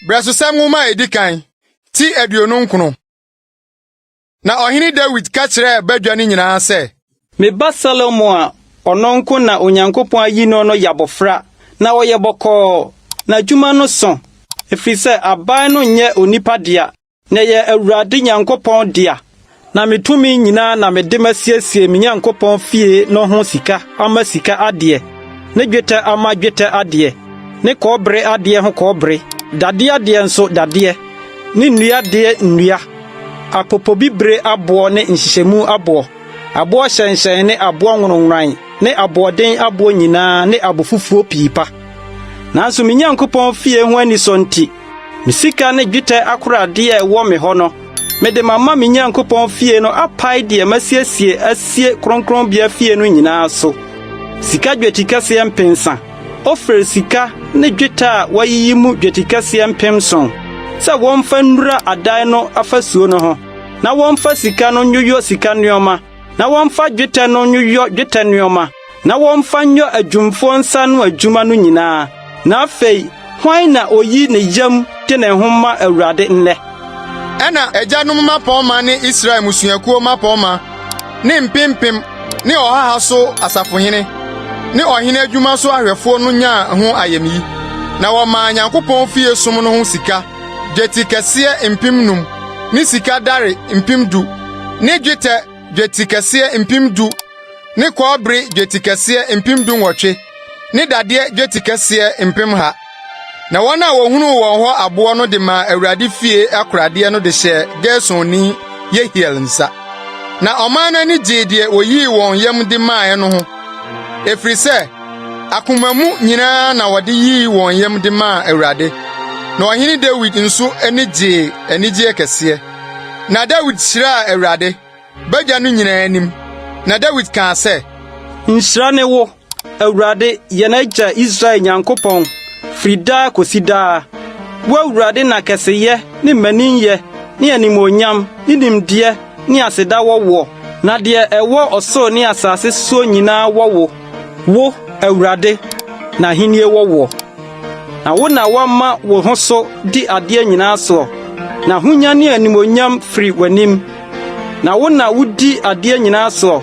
Brɛsosɛm nwoma a edi kan ti aduonu nkono. Na ɔhene Dawid ka kyerɛɛ badwa no nyinaa sɛ, Me ba Salomo a ɔno nko na Onyankopɔn ayi no no yɛ abɔfra, na ɔyɛ bɔkɔɔ, n'adwuma no sõ, ɛfiri sɛ aban no nyɛ onipa dea, Meyɛ Awurade Nyankopɔn dea, na me tumi nyinaa na mede masiesie me Nyankopɔn fie no ho sika ama sika adeɛ, ne dwetɛ ama dwetɛ adeɛ, ne kɔbere adeɛ ho kɔbere, dadeɛ adeɛ nso dadeɛ, ne nnua adeɛ nnua, apopobibire aboɔ ne nhyehyɛmu aboɔ, aboɔ hyɛnhyɛn ne aboɔ nwononworan ne aboɔden aboɔ nyinaa ne abofufuo pii pa. Nanso me Nyankopɔn fie ho anisɔ nti, Me sika ne dwetɛ akoradeɛ a ɛwɔ me hɔ no, mede mama me Nyankopɔn fie no apae deɛ masiesie asie kronkronbea fie no nyinaa so. Sika dwetikɛseɛ mpensa, Ofir sika ne dwetɛ a wɔayiyi mu dwetikɛseɛ mpemson, sɛ wɔmfa nnura adan no afasuo no ho, na wɔmfa sika no nyoyɔ sika nneɛma, na wɔmfa dwetɛ no nyoyɔ dwetɛ nneɛma. na wɔmfa nyɔ adwumfoɔ nsa ano adwuma no nyinaa. Na afei, hwan na ɔyi ne yam de ne ho ma Awurade nnɛ? Ɛnna agyanom mmapɔmma ne Israel mmusuakuo mmapɔmma ne mpempem ne ɔhaha so asafohene ne ɔhene adwuma so ahwɛfoɔ no nyaa ho ayamyi, na wɔmaa Nyankopɔn fie som no ho sika dwetɛ kɛseɛ mpem nnum ne sika dare mpem du ne dwetɛ dwetikɛseɛ mpem du ne kɔɔbere dwetikɛseɛ mpem dunwɔtwe ne dadeɛ dwetikɛseɛ mpem ha. Na wɔn a wɔhunuu wɔn hɔ aboɔ no de maa Awurade fie akoradeɛ no de hyɛɛ Gersonni Yehiel nsa. Na ɔman no ani gyee deɛ wɔyii wɔn yam de maaeɛ no ho, ɛfiri sɛ akoma mu nyinaa na wɔde yii wɔn yam de maa Awurade. Na ɔhene Dawid nso ani gyee anigyeɛ kɛseɛ. Na Dawid hyiraa Awurade, Bagya no nyinaa anim, na Dawid kaa sɛ. Nhyira ne wo, Awurade, yɛn agya Israel Nyankopɔn, firi daa kɔsi daa. Wo Awurade na kɛseyɛ ne mmaninyɛ ne animuonyam ne nimdeɛ ne aseda wɔ woɔ. Na deɛ ɛwɔ ɔsoro ne asase soɔ nyinaa wɔ wo. Wo, Awurade, na ahennie wɔ woɔ. Na wo na woama wo ho so di adeɛ nyinaa soɔ, na ahonya ne animuonyam firi w'anim. Na wo na wudi adeɛ nyinaa soɔ,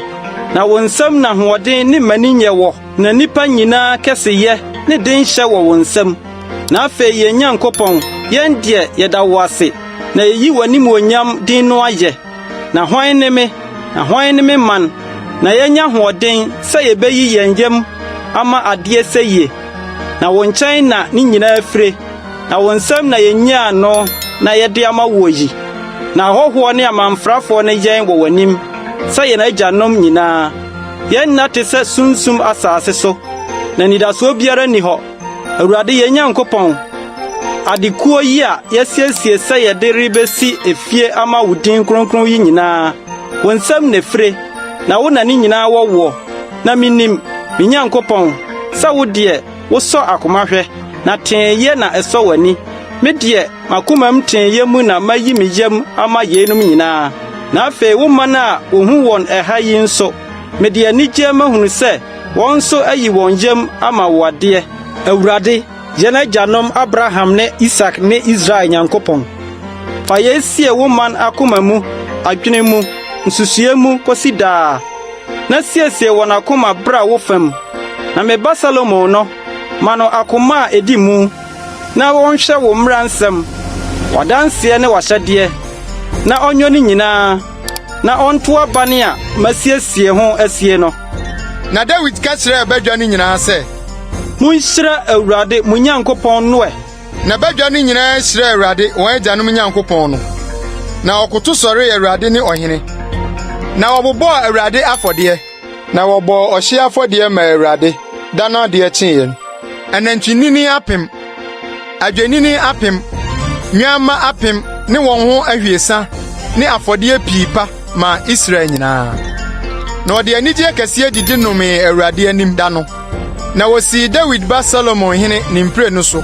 na wo nsam na ahoɔden ne mmaninyɛ wɔ, na nnipa nyinaa kɛseyɛ ne denhyɛ wɔ wo nsam. Na afei yɛn Nyankopɔn, yɛn deɛ, yɛda wo ase, na yɛyi w'animuonyam din no ayɛ. Na hwan ne me, na hwan ne me man, na yɛanya ahoɔden sɛ yɛbɛyi yɛn yam ama adeɛ sɛyie? Na wo nkyɛn na ne nyinaa fire. Na wo nsam na yenyaa no na yɛde ama woɔ yi, na ahɔhoɔ ne amamfrafoɔ no yɛn wɔ w'anim sɛ yɛn agyanom nyinaa. Yɛn nna te sɛ sunsum asase so, na anidasoɔ biara nni hɔ. Awurade yɛn Nyankopɔn, adekuo yi a yɛasiesie sɛ yɛde rebɛsi efie ama wo din kronkron yi nyinaa, wo nsam na ɛfire, na wo na ne nyinaa wɔ woɔ. Na menim, me Nyankopɔn, sɛ wo deɛ, Wosɔ akoma hwɛ, na teeyɛ na ɛsɔ w'ani. Me deɛ, m'akomam teeyɛ mu na mayi me yam ama yeinom nyinaa. Na afei wo man a wohu wɔn ɛha yi nso, mede anigyeɛ mahunu sɛ wɔn nso ayi wɔn yam ama wo adeɛ. Awurade, yɛn agyanom Abraham ne Isak ne Israel Nyankopɔn, fa yei sie wo man akoma mu, adwene mu, nsusuiɛ mu kɔsi daa. na siesie wɔn akoma bra wo fam, na me ba Salomo no, ma no akoma a edi mu, na ɔnhwɛ wo mmara nsɛm, w'adanseɛ ne w'ahyɛdeɛ, na ɔnyɔ ne nyinaa, na ɔnto aban a masiesie ho asie no. Na Dawid ka kyerɛɛ badwa no nyinaa sɛ. Monhyira Awurade mo Nyankopɔn no ɛ! Na badwa no nyinaa srɛɛ Awurade, wɔn agyanom Nyankopɔn no, na wɔkoto sɔree Awurade ne ɔhene. Na wɔbobɔɔ Awurade afɔdeɛ, na wɔbɔɔ ɔhyeɛ afɔdeɛ maa Awurade da no adeɛ kyeeɛ no. Anantwinini apem, adwennini apem, nnwamma apem ne wɔn ho abiɛsa ne afɔdeɛ pii pa maa Israel nyinaa. Na ɔde anigyeɛ kɛseɛ didi nomee Awurade anim da no. Na wɔsii Dawid ba Solomon hene ne mprenu so,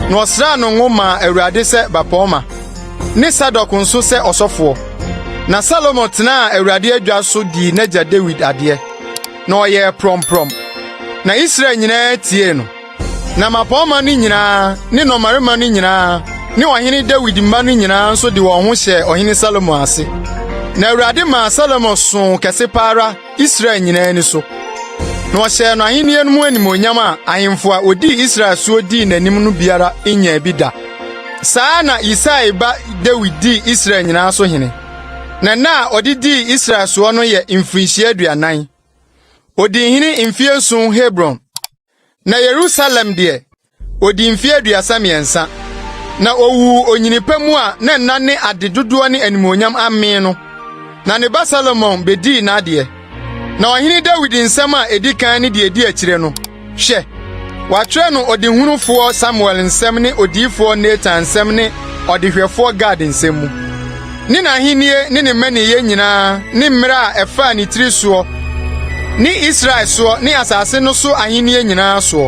na ɔsraa no ngo maa Awurade sɛ bapɔmma, ne Sadok nso sɛ ɔsɔfoɔ. Na Solomon tenaa Awurade adwa so dii n'agya Dawid adeɛ, na ɔyɛɛ prɔmprɔm, na Israel nyinaa tiee no. Na mmapɔmma no nyinaa ne nnɔmmarima no nyinaa ne Ɔhene Dawid mma no nyinaa nso de wɔn ho hyɛɛ Ɔhene Salomo ase. Na Awurade maa Salomo soo kɛse pa ara Israel nyinaa ani so, na ɔhyɛɛ no ahenni no mu animuonyam a ahemfo a wodii Israel so dii n'anim no biara nnyaa bi da. Saa ara na Yisai ba Dawid dii Israel nyinaa so hene, na nna a ɔde dii Israel soɔ no yɛ mfirinhyia aduanan. Odii hene mfeɛ nson Hebron. Na Yerusalem deɛ, ɔdii mfeɛ aduasa mmiɛnsa, na ɔwuu onyini pa mu a na nna ne ade dodoɔ ne animuonyam amee no. Na ne ba Solomon bɛdii n'adeɛ. Na ɔhene Dawid nsɛm a ɛdi kan ne deɛ ɛdi akyire no, hwɛ, wɔatwerɛ no ɔdehunufoɔ Samuel nsɛm ne odiyifoɔ Natan nsɛm ne ɔdehwɛfoɔ Gad nsɛm mu. ne n'ahenni ne ne mmaninyɛ nyinaa ne mmara a ɛfaa ne tiri soɔ ne Israel soɔ ne asase no so ahenni nyinaa soɔ.